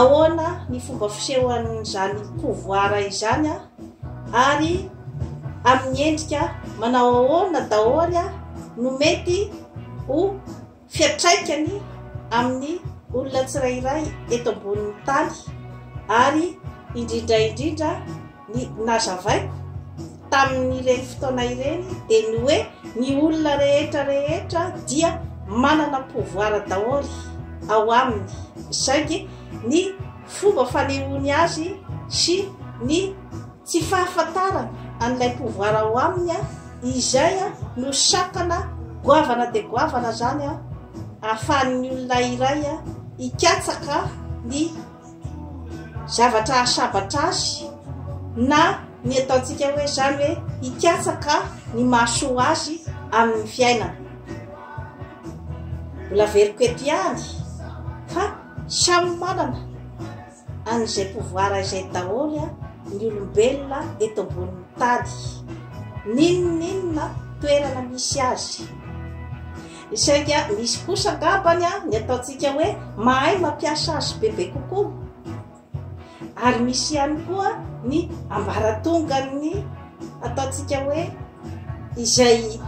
Ahoana ny fomba fisehon'izany pouvoir izany ary amin'ny endrika manao ahoana daholo no mety ho fiatraikany amin'ny olona tsirairay eto ambonin'ny tany ary indrindra indrindra Ny nazavaiko tamin'ireny fotoana ireny dia ny hoe ny olona rehetra rehetra dia manana pouvoir daholo ao aminy saingy ny fomba fanehoany azy sy ny tsy fahafantarany an'ilay pouvoir ao aminy izay no sakana goavana dia goavana izany ahafahan'ny olona iray hikatsaka ny zavatra hahasabatra azy na ny ataontsika hoe zany hoe hikatsaka ny mahasoa azy amin'ny fiainana mbola veriko eto ihany fa samy manana an'izay pouvoir izay daholo a ny olombelona eto ambonin'ny tany n'inon'inona toerana misy azy Saingy misy kosa angambany ny ataontsika hoe mahay mampiasa azy bebe kokoa. Ary misy ihany koa ny ambaratongan'ny ataontsika hoe izay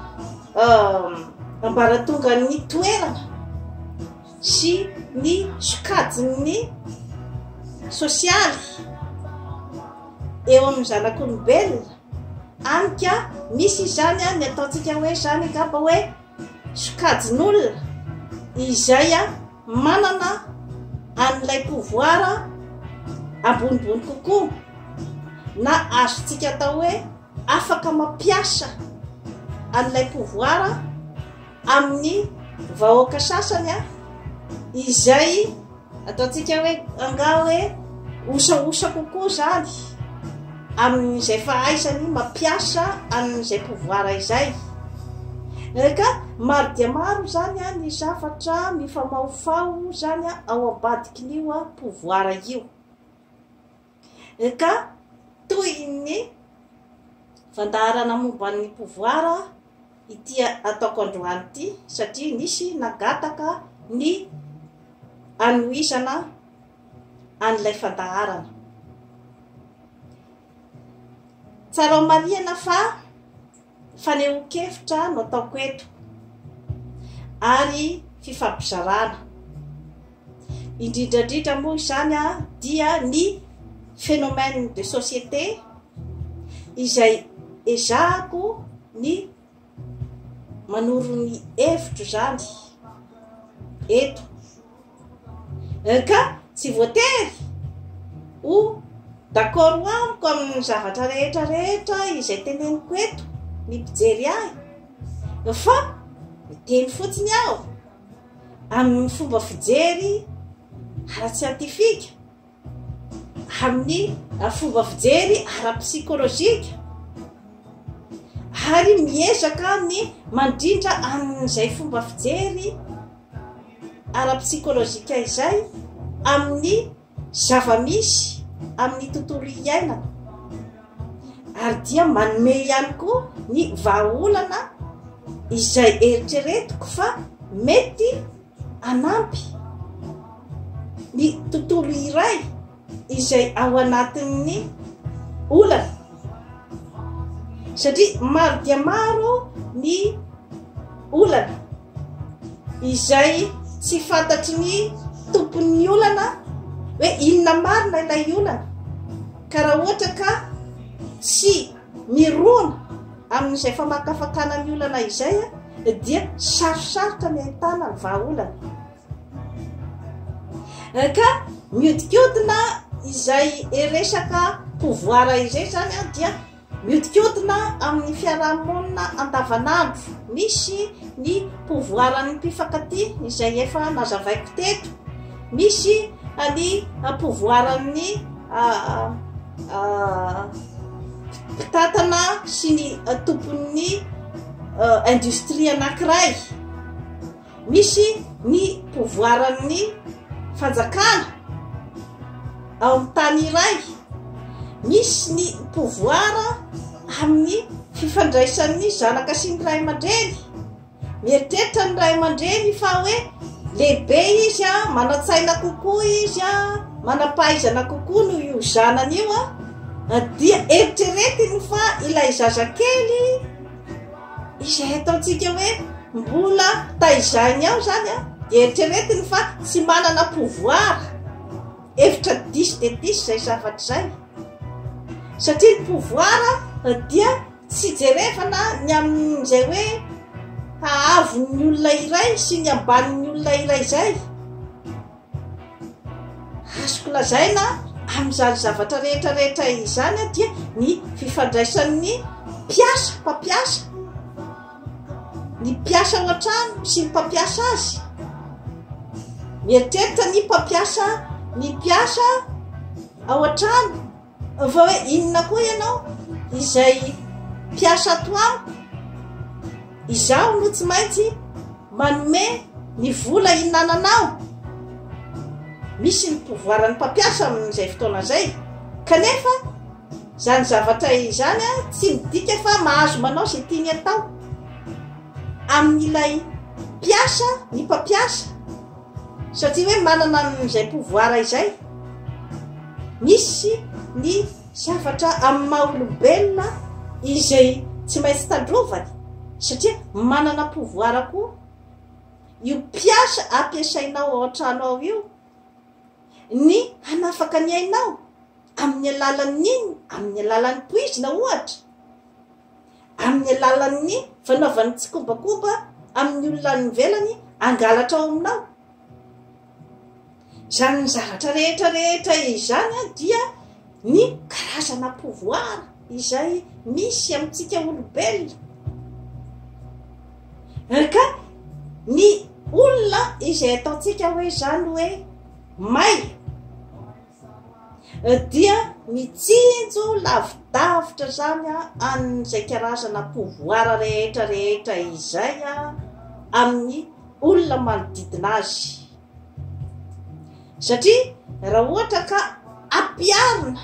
ambaratongan'ny toerana sy ny sokajin'ny sosialy eo amin'ny zanak'olombelona. Anika, misy izany an, ny ataontsika hoe zany angamba hoe sokajin'olona izay manana an'ilay pouvoir ambonimbony kokoa na azontsika atao hoe afaka mampiasa an'ilay pouvoir amin'ny vahoaka sasany izay Ataontsika hoe angaha hoe osaosa kokoa izany amin'izay fahaizany mampiasa an'izay pouvoir izay. Ka maro dia maro izany ny zavatra mifamahofaho izany ao ambadikin'io pouvoir io. Ka toy ny fandaharana momba ny pouvoir ity ataoko androany ity satria nisy nangataka ny hanohizana an'ilay fandaharana. Tsarao marihana fa Fanehoan-kevitra no ataoko eto ary fifampizarana. Indrindra indrindra moa izany dia ny phénomène de société izay ezahako ny manoro ny hevitro izany eto. Hein ka tsy voatery ho d'accord amiko amin'ny zavatra rehetra rehetra izay teneniko eto ny mpijery ahy fa miteny fotsiny aho amin'ny fomba fijery ara-tsiantifika. amin'ny fomba fijery ara-psikolojika ary miezaka ny mandrindra amin'izay fomba fijery ara-psikolojika izay amin'ny zava-misy amin'ny tontolo iainana ary dia manome ihany koa ny vahaolana izay eritreretiko fa mety hanampy ny tontolo iray izay ao anatin'ny olana satria maro dia maro ny olana izay tsy fantatry ny tompon'ny olana hoe inona marina ilay olana ka raha ohatra ka tsy Mirona amin'izay famakafakana ny olana izay dia sarosarotra ny ahitana ny vahaolana. Ka mihodinkodina izay resaka pouvoir izay zany dia mihodinkodina amin'ny fiarahamonina andavanandro. Misy ny pouvoir-n'ny mpifankatia izay efa nazavaiko teto. Misy ny ampovoaran'ny mpitantana sy ny tompon'ny industrie anankiray. Misy ny povoaran'ny fanjakana ao amin'ny tany iray. Misy ny povoara amin'ny fifandraisan'ny zanaka sy ny ray aman-dreny. Mieritreritra ny ray aman-dreny fa hoe lehibe izy a, manan-tsaina kokoa izy a, manam-pahaizana kokoa noho io zanany io a, dia eritreretiny fa ilay zazakely izay ataontsika hoe mbola taizainy ao zany a, dia eritreretiny fa tsy manana pouvoir, hevitra diso dia diso izay zavatra izay, satria ny pouvoir dia. Tsy jerevana ny amin'izay hoe haavon'ny olona iray sy ny ambanin'ny olona iray izay. Azoko lazaina amin'izany zavatra rehetra rehetra izany dia ny fifandraisan'ny mpiasa, mpampiasa, ny mpiasa ao an-trano sy ny mpampiasa azy. Mieritreritra ny mpampiasa, ny mpiasa ao an-trano. Fa hoe inona koa ianao izay mpiasa ato amiko? Izaho no tsy maintsy manome ny vola hinananao. Misy ny pouvoir ny mpampiasa amin'izay fotoana izay. Kanefa izany zavatra izany tsy midika fa mahazo manao izay tiany atao amin'ilay mpiasa ny mpampiasa. Satria hoe manana an'izay pouvoir izay, misy ny zavatra amin'ny maha olombelona izay tsy maintsy tandrovany satria manana pouvoir koa io mpiasa ampiasainao ao an-trano ao io ny hanafaka ny ainao amin'ny alalan'ny inona, amin'ny alalan'ny poizina ohatra. amin'ny alalan'ny fanaovan'ny tsikombakomba amin'ny olona any ivelany hangalatra ao aminao izany ny zavatra rehetra rehetra izany a dia ny karazana pouvoir izay misy amintsika olombelona ka ny olona izay ataontsika hoe zany hoe may dia mitsinjo lavidavitra izany an'izay karazana pouvoir rehetra rehetra izay amin'ny olona manodidina azy satria raha ohatra ka ampiarina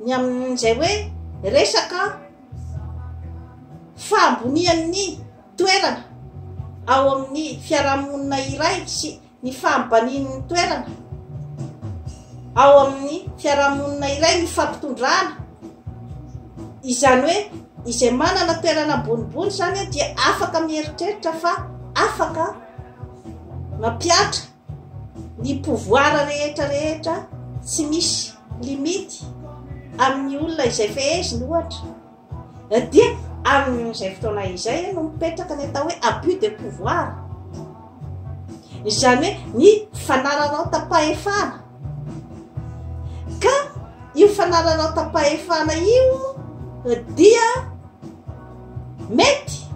ny amin'izay hoe resaka fahambonian'ny toerana ao amin'ny fiarahamonina iray sy ny fahambanian'ny toerana ao amin'ny fiarahamonina iray ny fampitondrana izany hoe izay manana toerana ambonimbony izany hoe dia afaka mieritreritra fa afaka mampiatra ny pouvoir rehetra rehetra tsy misy limity amin'ny olona izay feheziny ohatra Dia amin'izay fotoana izay no mipetraka ny atao hoe abus de pouvoir. Izany hoe ny fanararaotam-pahefana. Ka io fanararaotam-pahefana io dia mety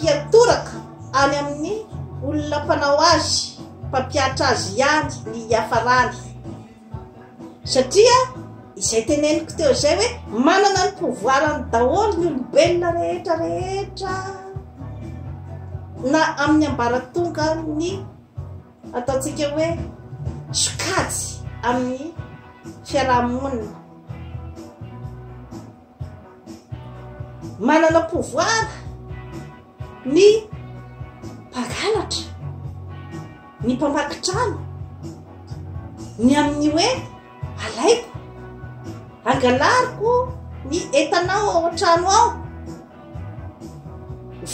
hiatoraka any amin'ny olona mpanao azy, mpampiatra azy ihany ny hiafarany. Satria izay teneniko teo izay hoe manana ny pouvoirany daholo ny olombelona rehetra rehetra na amin'ny ambaratongan'ny ataontsika hoe sokajy amin'ny fiarahamonina. Manana pouvoir ny mpangalatra, ny mpamaky trano, ny amin'ny hoe alaiko, angalariko ny entanao ao an-trano ao,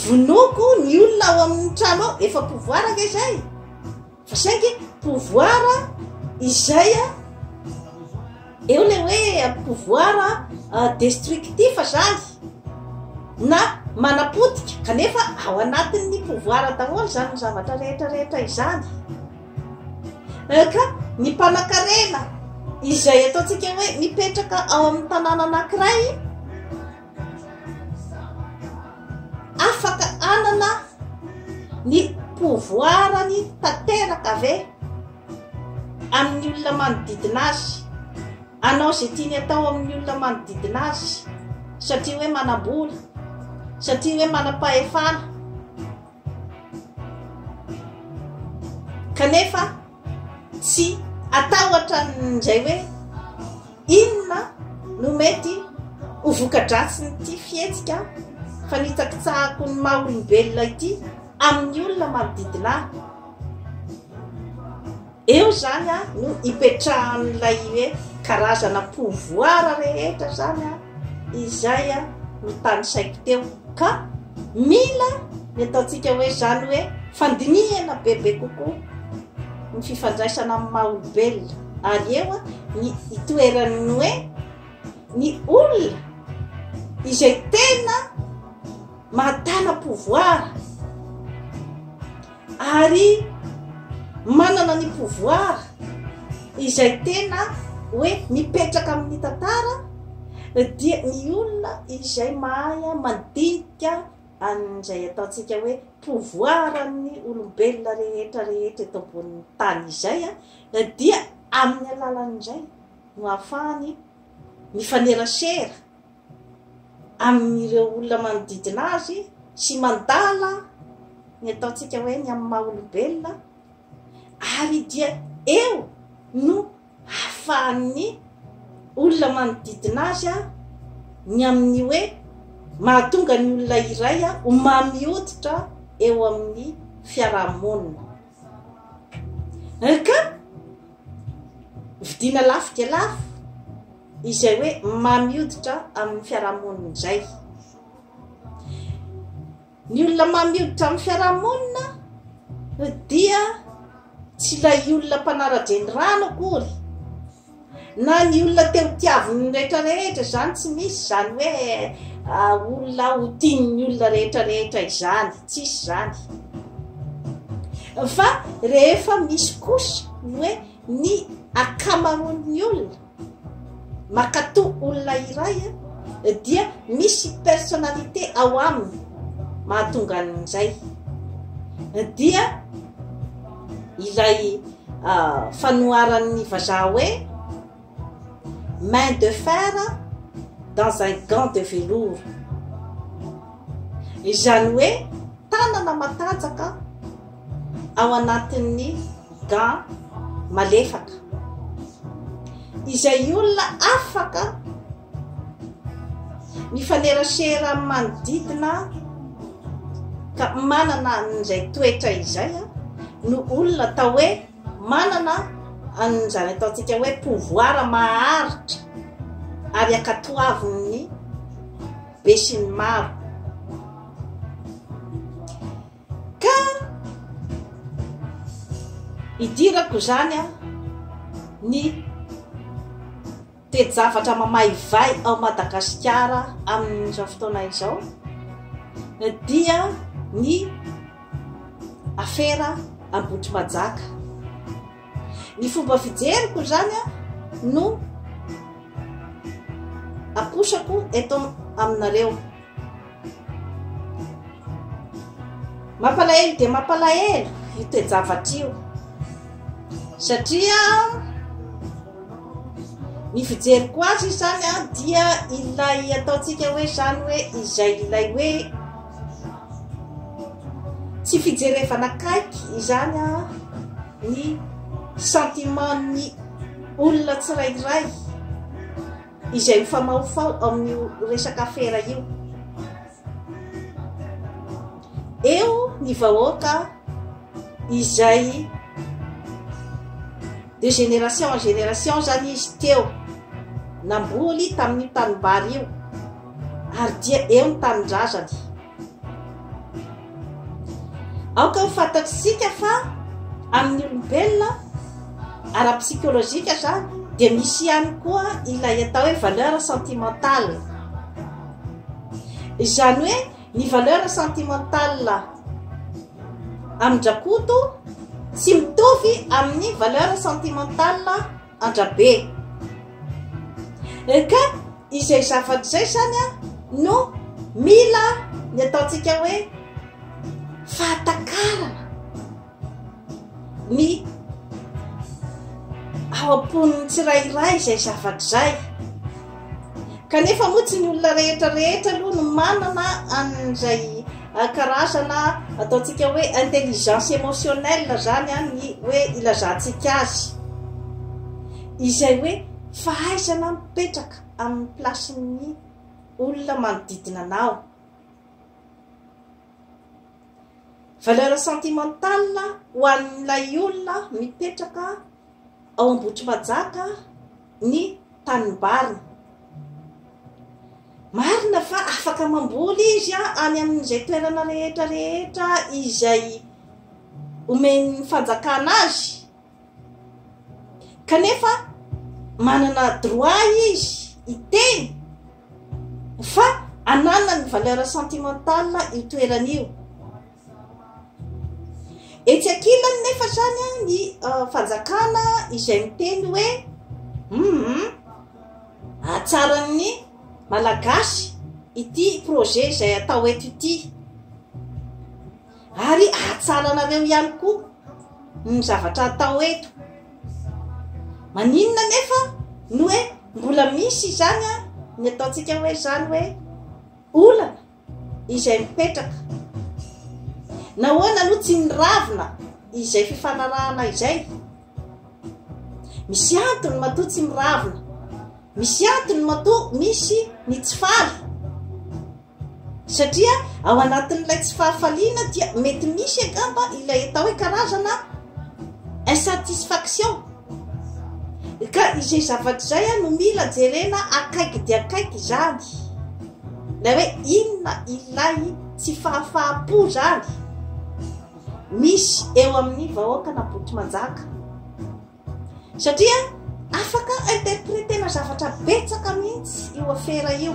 vonoiko ny olona ao amin'ny trano ao, efa pouvoir ange izay. Fa saingy pouvoir izay eo ilay hoe pouvoir destructif zany na manapotika kanefa ao anatin'ny pouvoir daholo izany ny zavatra rehetra rehetra izany euh, ka ny mpanakarena izay ataontsika hoe mipetraka ao amin'ny tanàna anankiray Afaka hanana ny pouvoir-ny tanteraka ve amin'ny olona manodidina azy? Hanao izay tiany hatao amin'ny olona manodidina azy satria hoe manam-bola, satria hoe manam-pahefana? Kanefa tsy atahotra an'izay hoe inona no mety ho voka-dratsin'ity fihetsika fanitsakitsahako ny maha olombelona ity amin'ny olona manodidina ahy. Eo zany a no ipetrahan'ilay hoe karazana pouvoir rehetra zany a izay a no tanisaiko teo ka mila ny ataontsika hoe zany hoe fandinihana bebe kokoa ny fifandraisana amin'ny maha olombelona ary eo a ny itoeran'ny hoe ny olona izay tena mahatana pouvoir Ary manana ny pouvoir izay tena hoe mipetraka amin'ny tantara dia ny olona izay mahay mandinika an'izay ataontsika hoe pouvoir an'ny olombelona rehetra rehetra eto ambonin'ny tany izay dia amin'ny alalan'izay no ahafahany mifanerasera amin'ireo olona manodidina azy sy mandala ny ataontsika hoe ny amin'ny maha olombelona ary dia eo no hafahan'ny olona manodidina azy a ny amin'ny hoe mahatonga ny olona iray a ho mamioditra eo amin'ny fiarahamonina ka vidina lafo dia lafo izay hoe mamy hoditra amin'ny fiarahamonina izay. Ny olona mamy hoditra amin'ny fiarahamonina dia tsy ilay olona mpanara-drenirano akory na ny olona te ho tiavin'ny rehetrarehetra izany tsy misy izany hoe ah, olona ho tian'ny olona rehetrarehetra izany tsy isy izany fa rehefa misy kosa ny hoe ny akamaroan'ny olona Makatò olona iray dia misy personnalité ao aminy mahatonga an'izay. Dia ilay fanoharan'ny vazaha hoe main de fer dans un gant de velours. Izany hoe tanana matanjaka. ao anatin'ny gant malefaka izay olona afaka mifanerasera amin'ny manodidina ka manana an'izay toetra izay no olona atao hoe manana an'izany ataontsika hoe pouvoir maharitra ary ankatoavin'ny besinimaro Ka idirako izany an ny toe-javatra mamaivay ao Madagasikara amin'izao fotoana izao dia ny afera Ambohitrimanjaka. Ny fomba fijeriko izany an no aposako eto aminareo. Mampalahelo dia mampalahelo io toe-javatra io satria ny fijeriko azy izany a dia ilay ataontsika hoe izany hoe izay ilay hoe tsy fijerevana akaiky izany a ny sentimentny olona tsirairay Izay mifamahofaho amin'io resaka afera io. Eo ny vahoaka izay de génération en génération zany izy teo namboly tamin'io tanimbary io ary dia eo ny tanindrazany. Aoka ho fantatsika fa amin'ny olombelona ara-psychologique zany dia misy ihany koa ilay atao hoe valeur sentimentale. Izany hoe ny valeur sentimentale amin-drakoto tsy mitovy amin'ny valeur sentimentale andrabe eh, ka izay zavatra izay izany a no mila ny ataontsika hoe fahatakarana ny ao am-poniny tsirairay izay zavatra izay Kanefa moa tsy ny olona rehetra rehetra aloha no manana an'izay karazana ataontsika hoe intelligence émotionnelle zany an ny hoe ilazantsika azy izay hoe fahaizana mipetraka amin'ny plasin'ny olona manodidina anao. Valeur sentimentale ho an'ilay olona mipetraka ao Ambohitrimanjaka ny tanimbariny. Marina fa afaka mamboly izy any amin'izay toerana rehetra rehetra izay omen'ny fanjakana azy, kanefa manana droit izy hiteny fa ananany valeur sentimentale io toerana io. Etsy ankilany nefa izany ny ah, fanjakana izay miteny hoe hum hatsaran'ny malagasy ity projet izay atao eto ity ary hatsaranareo ihany koa ny zavatra atao eto maninona nefa no hoe mbola misy izany a ny ataontsika hoe izany hoe olana izay mipetraka. Nahoana aloha tsy niravina izay fifanarahana izay? Misy antony matoa tsy miravina. Misy antony matoa misy ny tsy faly. Satria ao anatin'ilay tsy fahafaliana dia mety misy angamba ilay atao hoe karazana insatisfaction. Ka izay zavatra izay a no mila jerena akaiky dia akaiky izany. Ilay hoe inona ilay tsy fahafahampo izany misy eo amin'ny vahoaka na boto manjaka. Satria afaka interpretena zavatra betsaka mihitsy io afera io.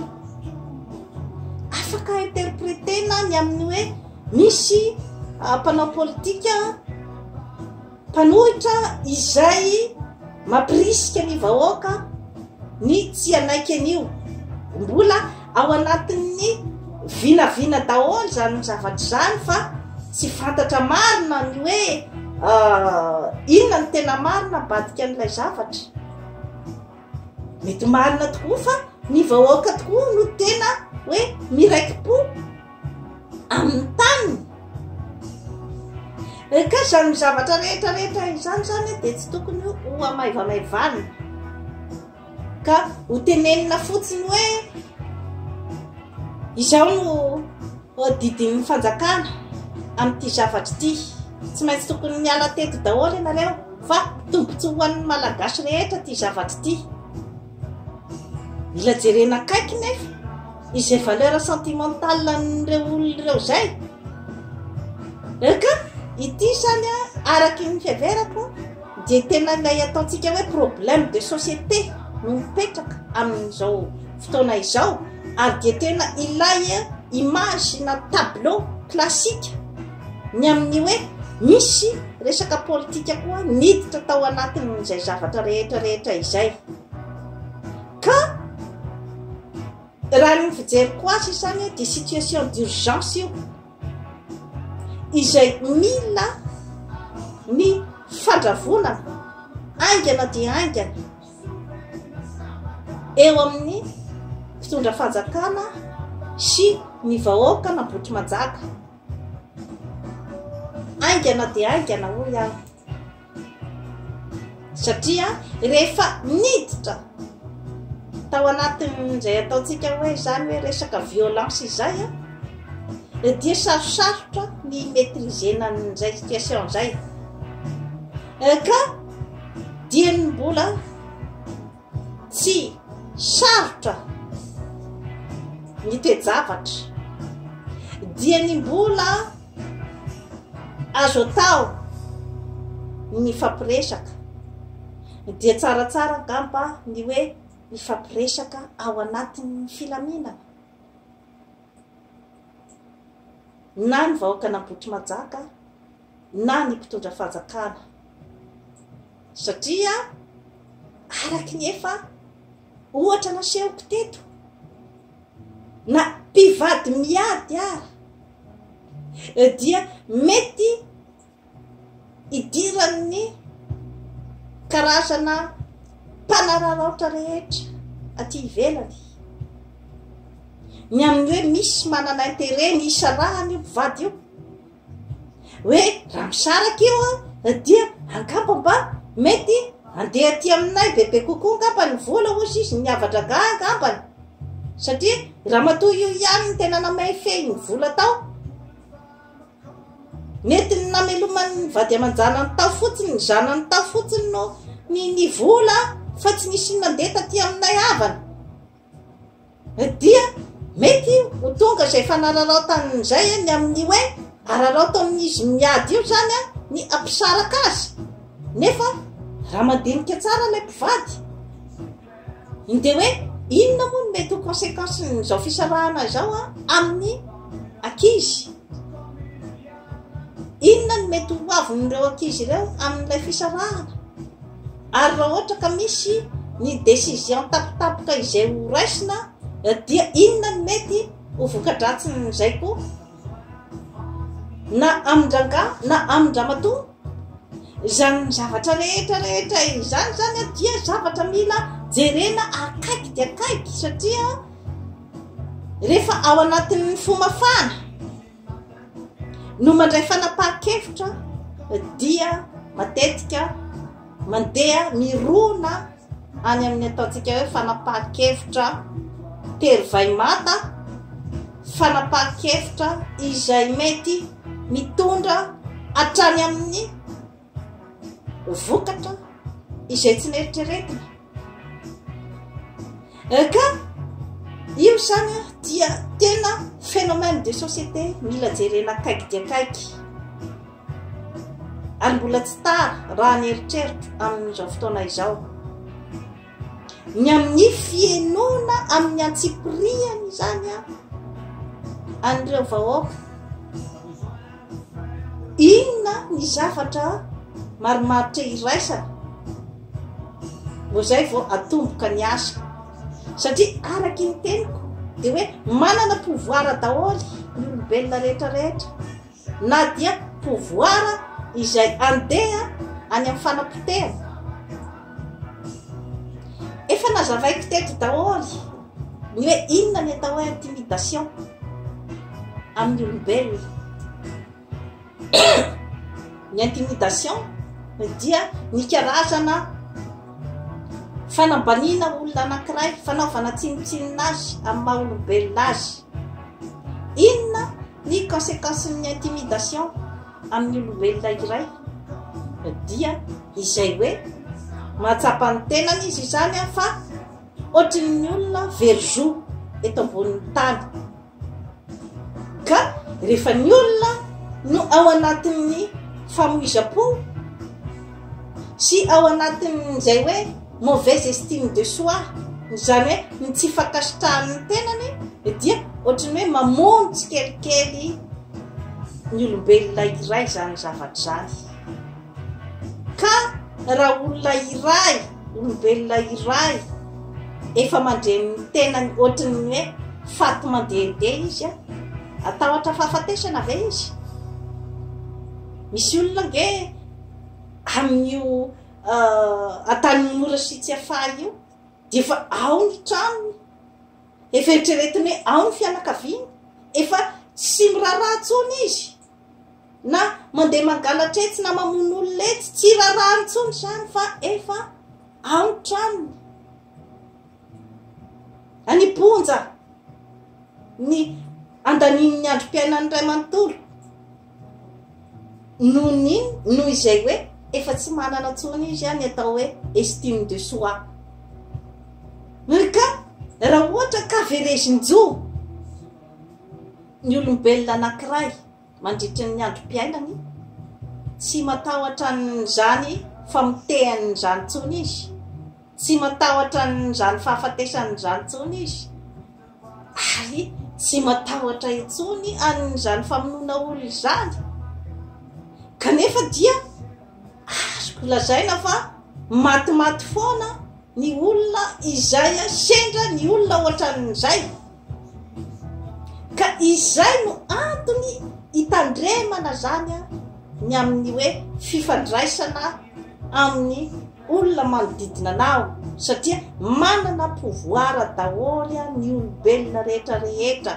Afaka interpretena ny amin'ny hoe misy ah, mpanao politika Mpanohitra izay mampirisika ny vahoaka ny tsy hanaiky an'io. Mbola ao anatin'ny vinavina daholo izany zavatra izany fa tsy fantatra marina ny hoe inona ny tena marina ambadika an'ilay zavatra. Mety marina tokoa fa ny vahoaka tokoa no tena hoe miraiki-po. amin'ny taniny eh, ka izany zavatra rehetra rehetra izany zany dia tsy tokony ho amaivamaivana ka ho tenenina fotsiny hoe izao no didin'ny fanjakana amin'ity zavatra ity tsy maintsy tokony miala teto daholo ianareo fa tombotsoa ho an'ny malagasy rehetra ty zavatra ity Mila jerena akaiky nefa izay valeur sentimentale an'ireo olona ireo izay. Eka, ity izany araka ny fiheverako dia tena ilay ataontsika hoe problème de société no mipetraka amin'izao fotoana izao ary dia tena ilay image na tableau classique Ny amin'ny hoe misy resaka politika koa niditra tao anatin'izay zavatra rehetra rehetra izay. Ka raha ny fijeriko azy izany hoe dia situation d'urgence io izay mila ny fandravonana aingana dia aingana eo amin'ny fitondra fanjakana sy ny vahoaka na botry manjaka. Haingana dia haingana hoy aho. Satria rehefa niditra tao anatin'izay ataontsika hoe izany hoe resaka violence izay dia sarosarotra ny maîtriser-na an'izay situation izay. Ka dieny mbola Tsy sarotra ny toe-javatra dia ny mbola azo atao ny mifampiresaka dia tsaratsara angamba ny hoe mifampiresaka ao anatin'ny filaminana na ny vahoaka an'Ambohitrimanjaka na ny mpitondra fanjakana satria araky ny efa ohatra nasehoko teto na mpivady miady ara dia mety idiran'ny karazana mpanararaotra rehetra aty ivelany ny amin'ny hoe misy manana intere ny isarahany io mpivady io hoe raha misaraka io a dia angamba mba mety andeha aty aminay bebe kokoa angamba ny vola ozy izy ny havadragaha angambany satria raha matoa io ihany ny tena namay fehiny vola tao nety ny nameloman'ny vady aman-janany tao fotsiny ny zanany tao fotsiny no ny ny vola fa tsy nisy nandeha taty aminay havana Dia mety ho tonga izay fanararaotany izay ny amin'ny hoe araraotan'izy miady io izany ny hampisaraka azy. Nefa raha mandinika tsara ilay mpivady, dia hoe inona moa no mety ho conséquence-n'izao fisarahana izao amin'ny ankizy. Inona no mety ho avin'ireo ankizy ireo amin'ilay fisarahana? Ary raha ohatra ka misy ny décision tapitapika izay ho raisina dia inona no mety ho voka-dratsin'izay koa? Na amin-drangahy na amin-dramatoa izany zavatra rehetra rehetra izany zany dia zavatra mila jerena akaiky dia akaiky satria rehefa ao anatin'ny fomafana no mandray fanapahan-kevitra dia matetika mandeha mirona any amin'ny ataontsika hoe fanapahan-kevitra tery vaimata, fanapahan-kevitra izay mety mitondra hatrany amin'ny vokatra izay tsy neritreretina ka io izany a dia tena phénomène de société mila jerena akaiky dia akaiky ary mbola tsy tara raha ny eritreritro amin'izao fotoana izao ny amin'ny fienoana amin'ny antsipiriany izany a an'ireo vahoaka inona ny zavatra marimaritra iraisana vao zay vao atomboka ny asa satria araky ny teniko de hoe manana pouvoir daholo ny olombelona rehetrarehetra Na dia pouvoir izay andeha any amin'ny fanapotehana. Efa nazavaiko teto daholo ny hoe inona ny atao hoe intimidation amin'ny olombelona. Ny intimidation dia ny karazana fanambaniana olona anankiray, fanaovana tsinontsinona azy amin'ny maha olombelona azy. Inona ny kasekansin'ny intimidation amin'ny olombelona iray? Dia izay hoe mahatsapa ny tenany izy izany fa ohatrin'ny olona very zo eto ambonin'ny tany. Ka rehefa ny olona no ao anatin'ny famoizam-po, Sy ao anatin'izay hoe mauvaise estime de soi, izany hoe ny tsy fankasitrahan'ny tenany dia ohatry ny hoe mamono tsikelikely ny olombelona iray izany zavatra izany. Ka raha olona iray, olombelona iray efa mandreny ny tenany ohatry ny hoe faty mandehandeha izy, atahotra fahafatesana ve izy? Misy olona ange amin'io an-tanin'ny mora sy Tsiafahy io dia efa ao ny tranony, efa eritreretiny hoe ao ny fianakaviany, efa tsy miraharaha intsony izy na mandeha mangalatra etsy na mamono olona etsy, tsy raharaha intsony izany fa efa ao ny tranony. Any Ponja ny andanian'ny androm-piainan'ny iray manontolo. Noho ny in? Noho izay hoe efa tsy manana intsony izy ny atao hoe estime de soi. Ry ka, raha ohatra ka verezin-jo ny olombelona anankiray mandritra ny androm-piainany, tsy matahotra an'izany famotehany izany intsony izy, tsy matahotra an'izany fahafatesany izany intsony izy, ary tsy matahotra intsony an'izany famonoana olona izany kanefa dia azoko lazaina fa matimaty foana ny olona izay sendra ny olona ohatran'izay ka izay no antony hitandremana zany ny amin'ny hoe fifandraisana amin'ny olona manodidina anao satria manana pouvoir daholo ny olombelona rehetra rehetra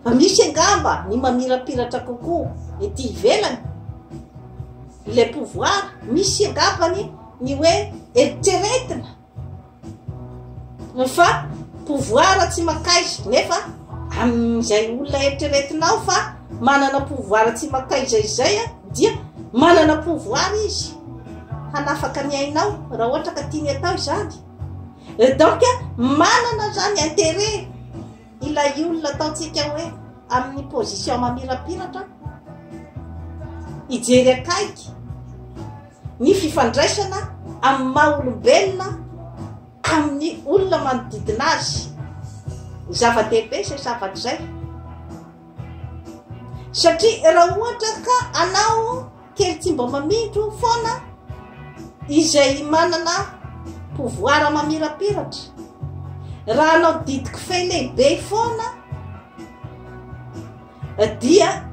fa misy angamba ny mamirapiratra kokoa ety ivelany ilay pouvoir misy angambany ny hoe eritreretina Ny fa pouvoir tsy mankaiza nefa amin'izay olona eritreretinao fa manana pouvoir tsy mankaiza izay dia manana pouvoir izy hanafaka ny ainao raha ohatra ka tiany atao izany donc manana zany intérêt Ilay olona ataontsika hoe amin'ny position mamirapiratra, hijery akaiky ny fifandraisana amin'ny maha olombelona amin'ny olona manodidina azy. Zava-dehibe izay zavatra izay. Satria raha ohatra ka anao Kely tsy mba mamindro foana izay manana pouvoir mamirapiratra. Raha hanao didy kofehy lehibe foana dia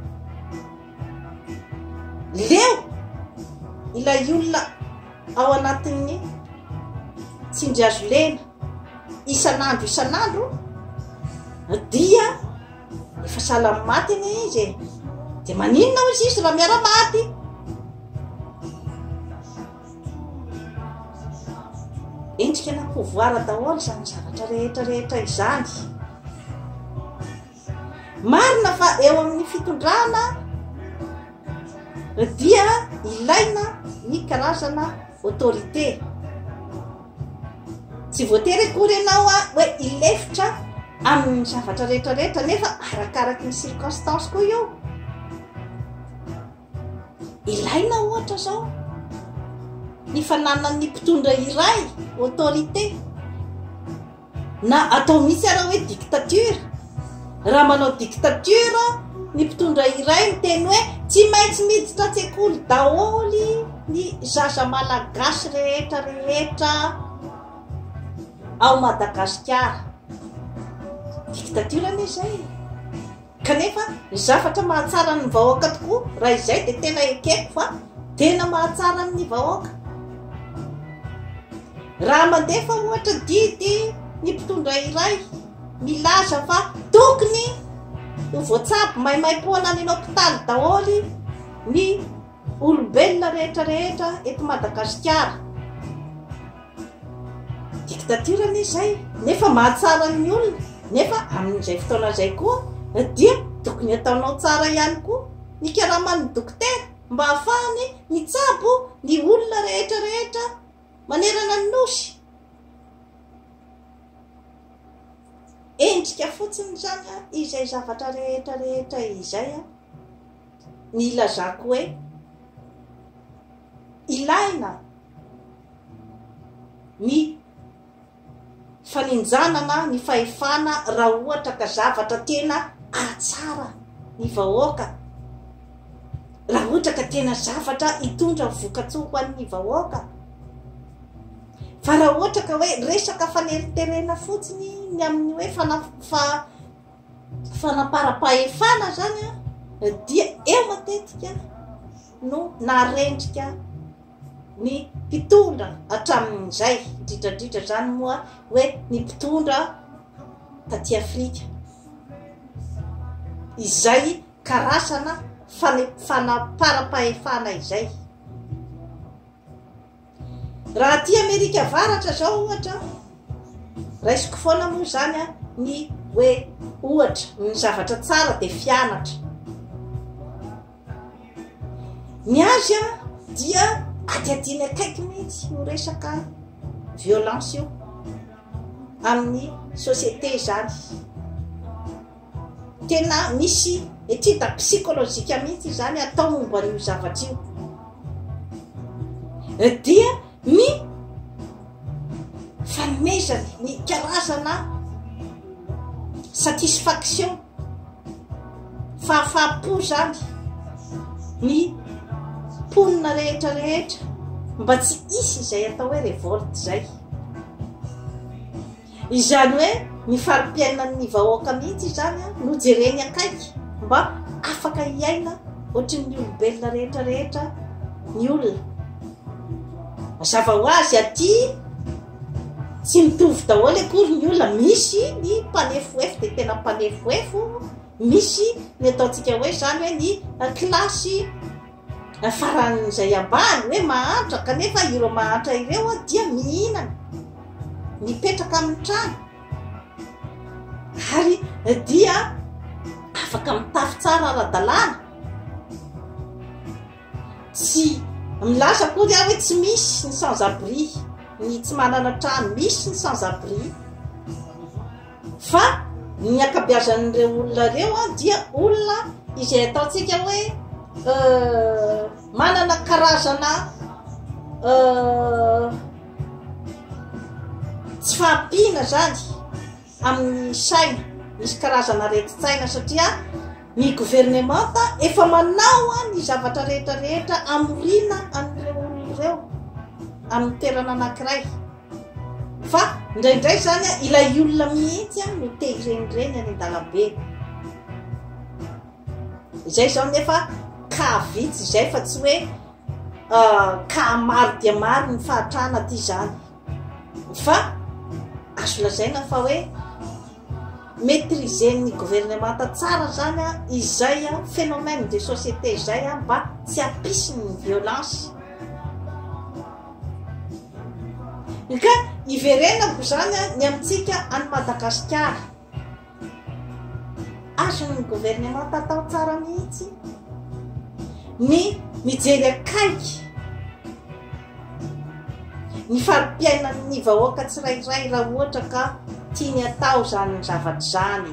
leo ilay olona ao anatin'ny tsindry hazo lena isan'andro isan'andro dia Efa sahala amin'ny maty anie izy e! Dia maninona hoy Zisy raha miara-maty? Endrika na pouvoir daholo izany zavatra rehetra rehetra izany. Marina fa eo amin'ny fitondrana dia ilaina ny karazana autorité. Tsy voatery akory ianao hoe hilefitra amin'ny zavatra rehetra rehetra nefa arakaraky ny circonstance koa io. Ilaina ohatra izao ny fananan'ny mpitondra iray autorité. Na atao mihitsy ara hoe dictature. Raha manao dictature ny mpitondra iray miteny hoe tsy maintsy miditra an-tsekoly daholo ny zaza malagasy rehetra rehetra ao Madagasikara. Dictature anie izay. Kanefa ny zavatra mahatsara ny vahoaka tokoa raha izay dia tena ekeko fa tena mahatsara ny vahoaka. Raha mandefa ohatra didy ny mpitondra iray milaza fa tokony ho voatsabo maimaim-poana any hopitaly daholo ny olombelona rehetra rehetra eto Madagasikara. dictature-ny izay nefa mahatsara ny olona nefa amin'izay fotoana izay koa dia tokony ataonao tsara ihany koa ny karaman'ny dokotera mba hahafahany mitsabo ny olona rehetra rehetra manerana ny nosy endrika fotsiny izany izay zavatra rehetra rehetra izay a ny ilazako hoe ilaina ny faninjanana ny fahefana raha ohatra ka zavatra tena ahatsara ny vahoaka raha ohatra ka tena zavatra hitondra vokatsoa ho an'ny vahoaka fa raha ohatra ka hoe resaka faneriterena fotsiny ny amin'ny hoe fanafa fanamparam-pahefana izany dia eo matetika no naharendrika ny mpitondra hatramin'izay, indrindra indrindra izany moa hoe ny mpitondra taty Afrika. Izay karazana fanaparam-pahefana izay. Raha aty Amerika Avaratra zao ohatra, raisiko foana moa izany an, ny hoe ohatra, ny zavatra tsara dia fianatra. Ny azy an, dia adihadiany akaiky mihitsy io resaka violence io amin'ny société izany. Tena misy étude psychologique mihitsy izany atao momba an'io zavatra io. Dia ny fanomezany ny karazana satisfaction fahafaham-po izany ny mponina rehetra rehetra mba tsy hisy izay atao hoe revolte izay. Izany hoe ny fari-piainan'ny vahoaka mihitsy izany no jereny akaiky mba afaka hiaina ohatrin'ny olombelona rehetra rehetra ny olona. Mazava ho azy aty tsy mitovy daholo akory ny olona, misy ny mpanefoefo dia tena mpanefoefo, misy ny ataontsika hoe izany hoe ny kilasy Faran'izay ambara hoe mahantra kanefa ireo mahantra ireo dia mihinana, mipetraka amin'ny trano ary dia afaka mitafy tsara ara-dalàna. Tsy milaza akory aho hoe tsy misy ny sans abri, ny tsy manana trano, misy ny sans abri. Fa ny ankabeazan'ireo olona ireo dia olona izay ataontsika hoe manana karazana tsy fahampiana zany amin'ny saina misy karazana reti-tsaina satria ny governemanta efa manao a ny zavatra rehetrarehetra amorina an'ireo olona ireo amin'ny toerana anankiray Fa indraindray izany a, ilay olona mihitsy a no te hirenireny any an-dalambe. Izay izao nefa ka vitsy izay fa tsy hoe ka maro dia maro ny fahatrana aty izany. Fa azo lazaina fa hoe Maîtriser-n'ny governemanta tsara zany an izay an phénomène de société izay an mba tsy hampisy ny violence. Ka iverenako izany an ny amintsika any Madagasikara. Azon'ny governemanta atao tsara mihitsy ny mijery akaiky Ny fari-piainan' ny vahoaka tsirairay raha ohatra ka tiany atao izany zavatra izany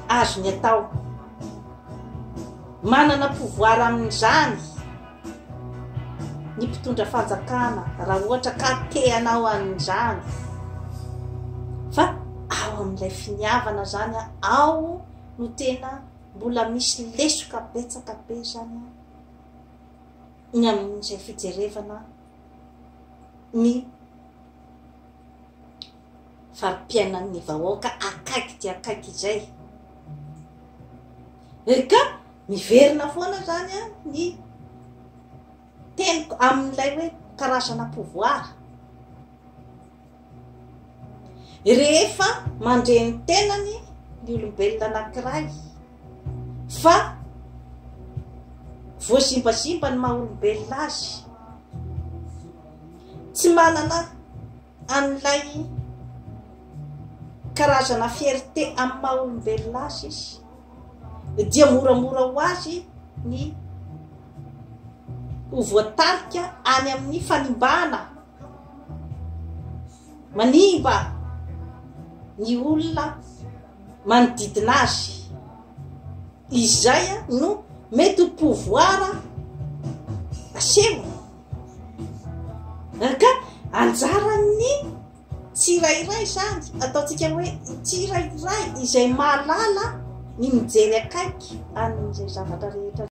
azony atao. Manana pouvoir amin' izany ny mpitondra fanjakana raha ohatra ka te hanao an' izany fa ao amin' ilay finiavana izany an ao no tena mbola misy lesoka betsaka be izany an. ny amin'izay fijerevana ny fari-piainan'ny vahoaka akaiky dia akaiky izay. Ry ka miverina foana zany a ny teniko amin'ilay hoe karazana pouvoir. Rehefa mandre ny tenany ny olombelona anankiray fa voazimbazimba ny maha olombelona azy, tsy manana an'ilay karazana fierté amin'ny maha olombelona azy izy, dia moramora ho azy ny ho voatarika any amin'ny fanimbana. Manimba ny olona manodidina azy. Izay no mety ho pouvoir asehony. Ka anjaran'ny tsirairay izany, ataontsika hoe tsirairay izay mahalala ny mijery akaiky an'izay zavatra rehetra.